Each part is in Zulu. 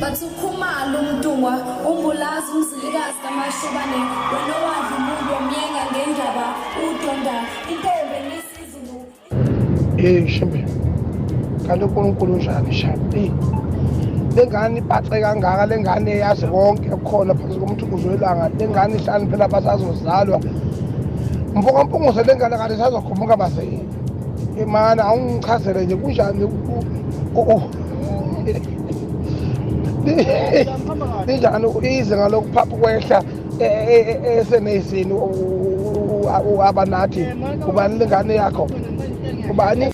Bathi ukhumalo umntungwa umbulazi umzilikazi kamashobane wena owadla umuntu omyenga ngendaba udonda intombi nesizulu Eh shembe kanti uNkulunkulu unjani shabi lengane ibhaxe kangaka lengane yazi konke kukhona phansi komuntu kuzwelanga lengane ihlani phela basazozalwa mfoka mpungose lengane kanti sazokhumuka bazeni imana awungichazele nje kunjani linjani ize ngalokhu phapha kwehla e, e, e, eseneyisini uhaba nathi ubani lengane yakho ubani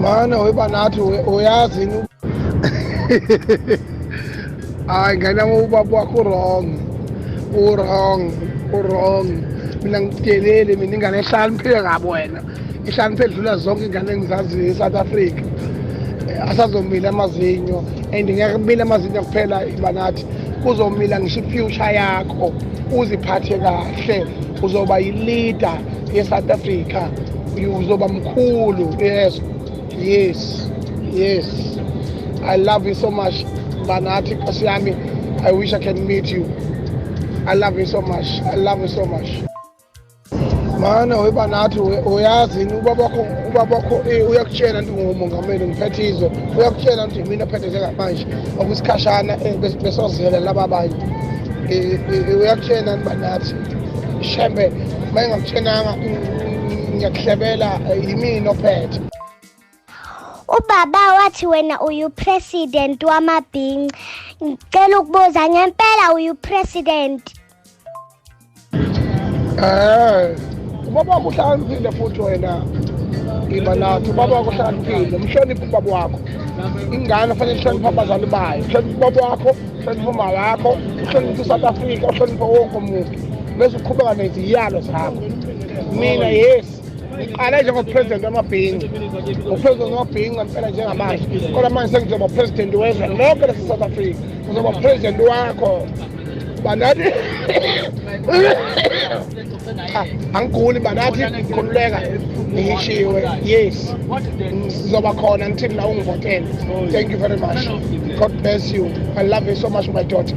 Mane weba nathi uyazi yini? Hayi ngena ubaba wakho wrong. U wrong, u wrong. Mina ngikudelele mina ingane ehlaniphile ngabo wena. Ihlaniphile dlula zonke ingane engizaziyo eSouth Africa. Asazomila amazinyo and ngeke kumile amazinyo kuphela ibanathi. Kuzomila ngisho ifuture yakho. Uziphathe kahle uzoba yileader yeSouth Africa. uzoba mkhulu yes yes yes i love you so much banathi nkosi yami i wish i can meet you i love you so much i love you so much mana weba nathi uyazi yini ubabakho ubabakho eh, uyakutshela nti ngumongameli ngiphethe izwe uyakutshela nti mina phethe njengamanje okusikhashana eh, besozela laba banye eh, uyakutshela nti banathi shembe uma engakutshenanga ngiyakuhlebela yimini ophethe ubaba wathi wena uyupresident wamabhinci ngicela ukubuza ngempela uyupresident eh ubaba wakho uhlakaniphile futhi wena iba nathi ubaba wakho uhlakaniphile mhloniphe ubaba wakho ingane fanele ihloniphe abazali bayo mhloniphe ubaba wakho uhloniphe uma wakho uhloniphe isouth africa uhloniphe wonke umuntu bese uqhubeka neziyalo zakho mina yes ngiqale njengopresident wamabhinca upresident wamabhinca mpela njengamanje kodwa manje sengizoba president wezwe lonke lase-south africa ngizoba president wakho banati cha angiguli but athi khululeka ngishiwe yes sizoba khona ngithini la ungivotele thank you very much god bless you i love you so much my daughter